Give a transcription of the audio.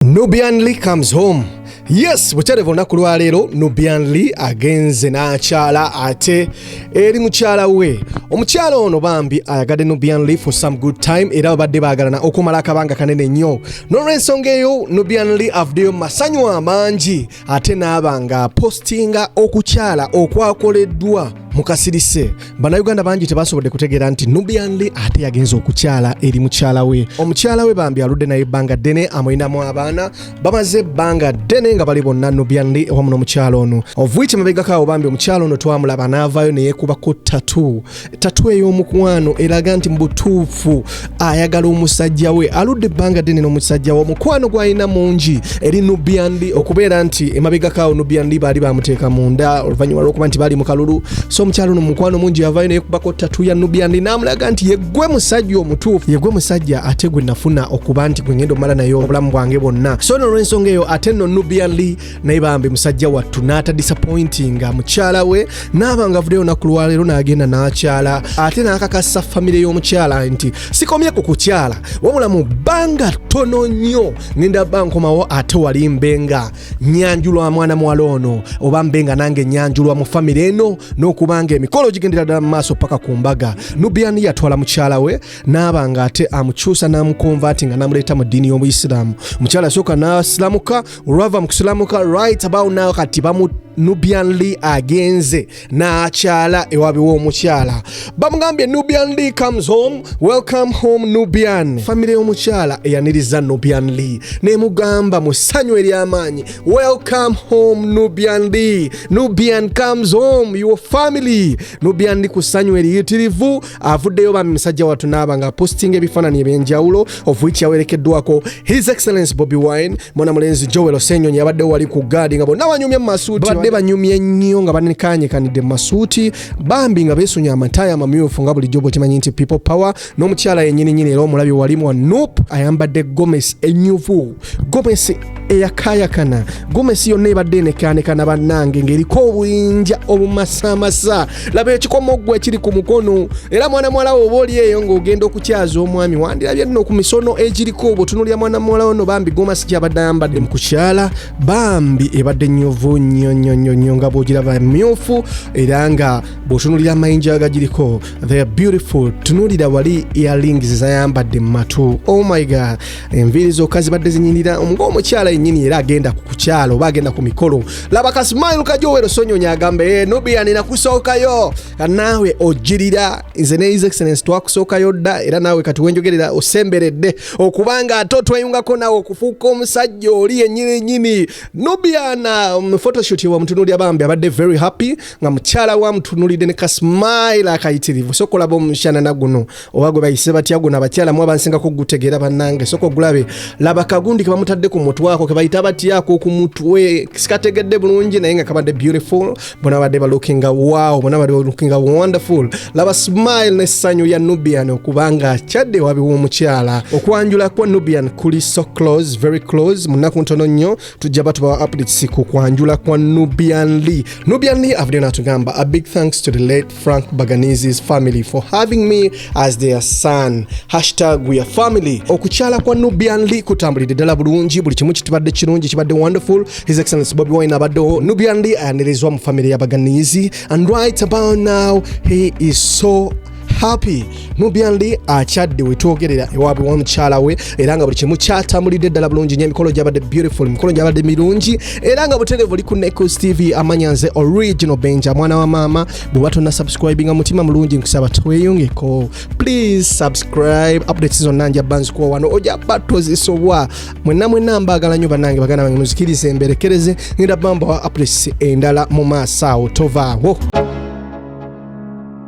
Nubian Lee comes home. Yes, bukyale vona ku lwaleero Nubian Lee agenze n'akyala ate eri mukyala we. Omukyala ono bambi ayagadde Nubian Lee for some good time era babadde baagalana okumala akabanga kanene nnyo. N'olwensonga eyo Nubian Lee avuddeyo masanyu amangi ate n'aba nga apostinga okukyala okwakoleddwa mu kasirise bannayuganda bangi tebasobodde kutegeera nti nubianli ate yagenza okukyala eri mukyala we omukyala we bambi aludde naye ebbanga ddene amulinamu abaana bamaze ebbanga ddene nga bali bonna nubianli ewamu n'omukyala ono ovuiki mabegakaawo bambi omukyala ono twamulaba n'avaayo neyekuba ku tatu tatu ey'omukwano eraga nti mu butuufu ayagala omusajja we aludde ebbanga ddene n'omusajja we omukwano gwalina mungi eri nubiandi okubeera nti emabegakaawo nubiandi baali bamuteeka munda oluvannyuma lwokuba nti baali mu kalulu so omukyalo no mukwano mungi yavayo naye kubako tatu ya nubiandi n'amulaga nti yegwe musajja omutuufu yegwe musajja ate gwe nafuna okuba nti gwe ngenda omala naye obulamu bwange bwonna so no olw'ensonga eyo ate no nubiandi naye bambi musajja wattu n'atadisappointinga mukyala we n'aba nga avuddeyo olunaku lwaleero n'agenda n'akyala ate n'akakasa famire y'omukyala nti sikomye ku kukyala wabula mu bbanga ttono nnyo ngenda ba nkomawo ate wali mbe nga nyanjulwa mwana muwala ono oba mbe nga nange nyanjulwa mu famire eno n'okuba nga emikolo gigendera ddala mu maaso paka ku mbaga nubiani yatwala mukyala we n'aba nga ate amukyusa n'amukonva nti nga namuleeta mu ddiini y'obuyisiraamu omukyala asooka n'asiramuka olwava mu kusilamuka right about now kati bamu nubian lee agenze n'akyala ewabi w'omukyala bamugambye nubian lee comes home welcome home nubian famire y'omukyala eyaniriza nubian lee nemugamba mu ssanyu ery'amaanyi welcome home nubian lee nubian comes home your family nubian lee ku ssanyu eriyitirivu avuddeyo bambi musajja watu naaba nga apostinga ebifaananyi ebyenjawulo of which yawerekeddwako his excellence bobi wine mwana mulenzi joel osenyonyi abaddewo wali ku gaadi nga bonna banyumye mu masuuti badde banyumye nnyo nga banekanyekanidde mu masuuti bambi nga beesunye amataaya amamyufu nga bulijjo bwekimanyi nti people power n'omukyala yenyininyini era omulabi walimu wa nup ayambadde gomesi enyuvu gomesi eyakaayakana gomesi yonna ebadde enekaanekana bannange ng'eriko obuyinja obumasaamasa laba ekikomoggwa ekiri ku mukono era mwana muwala wo oba oli eyo ng'ogenda okukyaza omwami wandirabye nno ku misono egiriko obutunulira mwana muwala ono bambi gomasi gyabadde ayambadde mu kukyala bambi ebadde nyovu nnyo nnyo nnyo nnyo nga bwogiraba myufu era nga bw'otunulira amayinja agagiriko the beautiful tunulira wali earlings zayambadde mu matu oh my god enviiri zokka zibadde zinyinira ng'omukyala yennyini era agenda ku kukyalo oba agenda ku mikolo laba kasimail kajowero sonyonyi agamba e eh, nubiani nakusookayo naawe ogirira nze ne his excellence twakusookayo dda era naawe kati wenjogerera osemberedde okubanga ate otweyungako naawe okufuuka omusajja oli yennyini nyini nubiana um, photoshoot wamutunulira bambi abadde very happy nga mukyala wamutunulidde ne kasimail akayitirivu sokolaba omushanana guno oba gwe bayise batya guno abakyala mu abansingako okugutegeera bannange soka ogulabe laba kagundi ke bamutadde ku mutwako ke bayita batyako ku mutwe sikategedde bulungi naye nga kabadde beautiful bona badde balookinga wow bona badde balookinga wonderful laba smile n'essanyu ya nubian okubanga akyadde wabi w'omukyala okwanjula kwa nubian kuli so close very close mu nnaku ntono nnyo tujja batubawa updates ku kwanjula kwa nubian lee nubian lee avuddeyo n'atugamba a big thanks to the late Frank Baganizi's family for having me as their son. Hashtag we are family. Okukyala kwa Nubian Lee kutambulidde ddala bulungi, buli kimu kitubadde kirungi, kibadde wonderful. His Excellency Bobi Wine abaddewo. Nubian Lee ayanirizibwa mu family ya Baganizi and right about now he is so happy Nubian Lee akyadde wetwogerera ewaabwe wa mukyala we era nga buli kimu kyatambulidde ddala bulungi nyo emikolo gyabadde beautiful emikolo gyabadde mirungi era nga buterevu oli ku Nekus TV amanya nze original Benja mwana wa maama bw'oba tonna subscribe nga mutima mulungi nkusaba tweyungeko please subscribe updates zonna nja banzikuwa wano ojja ba tozisobwa mwenna mwenna mbaagala nyo banange baganda bange muzikirize emberekereze ngenda bambawa updates endala mu maaso awo tovaawo